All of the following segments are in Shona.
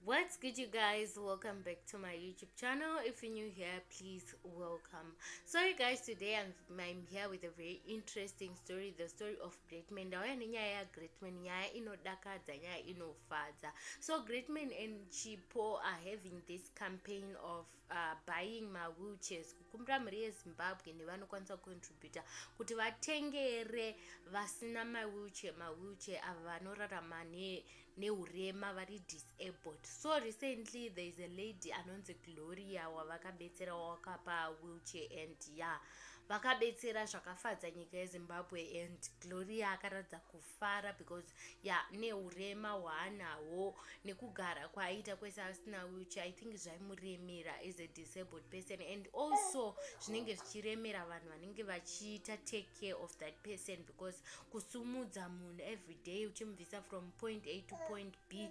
what's good you guys welcome back to my youtube channel if you're new here please welcome sorry guys today i'm, I'm here with a very interesting story the story of great man ndauya nenyaya yagreat man nyaya inodakadza nyaya inofadza so great man and chipo are having this campaign of uh, buying mawheelchairs kukumbira mhuri yezimbabwe nevanokwanisa kucontributa kuti vatengere vasina mawheelchair mawheelchair ava vanorarama neurema ne vari disabled so recently there is a lady anonzi gloria wavakabetsera wawakapa wheelchair and ya yeah, vakabetsera zvakafadza nyika yezimbabwe and gloria akaratidza kufa fara because ya neurema hwaanahwo nekugara kwaaita kwese asina wheelchair i think zvaimuremera as a disabled person and also zvinenge zvichiremera vanhu vanenge vachiita take care of that person because kusumudza munhu every day uchimubvisa from point a to point b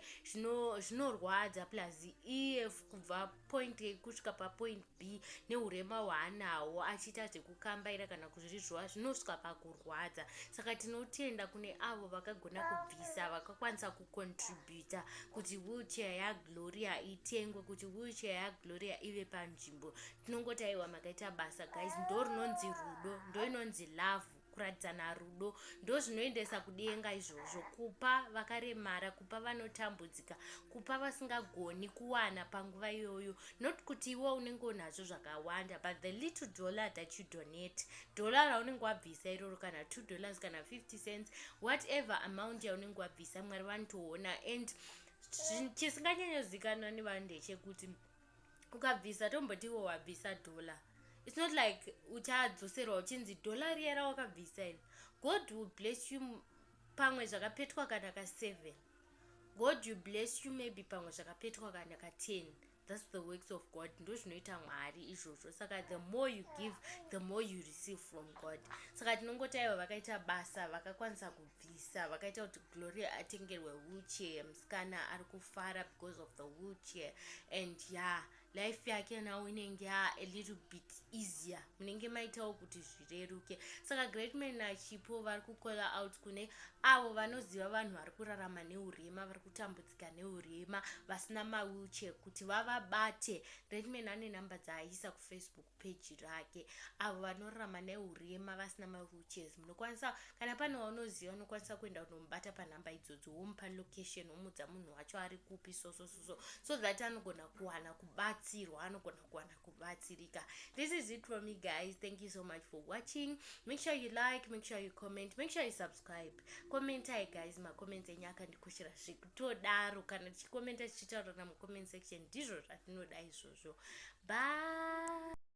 zvinorwadza plus ef kubva point a kusvika papoint b neurema hwaanawo achiita zvekukambaira kana kuzvirizvowa zvinosvika pakurwadza saka tinotenda kune avo vakagona kubvisa vakakwanisa kucontributa kuti wheelchair yagloria itengwe kuti wheelchair yagloria ive panzvimbo tinongoti aiwa makaita basa guys ndo rinonzi rudo ndo inonzi lavhu kuratidzana rudo ndozvinoendesa kudenga izvozvo kupa vakaremara kupa vanotambudzika kupa vasingagoni kuwana panguva iyoyo not kuti iwe unenge unazvo zvakawanda but the little dollar that you donate dollar raunenge wabvisa iroro kana two dollars kana 50 cents whatever amount yaunenge wabvisa mwari vanotoona and chisinganyanyozikanwa nevanhu ndechekuti ukabvisa tombotiwo wabvisa dollar its not like uchadzoserwa uchinzi dollar riya rawakabvisa iri god will bless you pamwe zvakapetwa kana ka seven god you bless you maybe pamwe zvakapetwa kana ka ten thats the works of god ndo zvinoita mwari izvozvo saka the more you give the more you receive from god saka tinongoti aiwa vakaita basa vakakwanisa ku bvisa vakaita kuti gloria atengerwe wheelchair musikana ari kufara because of the wheelchair and ya yeah, life yake nawo inenge ya a little bit easier munenge maitawo kuti zvireruke saka great man achipo vari kukola out kune avo vanoziva vanhu vari kurarama neurema vari kutambudzika neurema vasina mawheelchair kuti vavabate great man ane number dzaaisa kufacebook peji rake avo vanorarama neurema vasina mawheelchairs munokwanisa kana pane waunoziva unokwanisa kuenda kunomubata panhamba idzodzo womupa location womudza munhu wacho ari kupi sosososo so that anogona kuwana kubatsirwa anogona kuwana kubatsirika this is it for me guys thank you so much for watching make sure you like make sure you comment make sure you subscribe commentai guys macomments enyu akandikoshera zvekutodaro kana tichikomenta tichitaurana mucomment section ndizvo zvatinoda izvozvo bye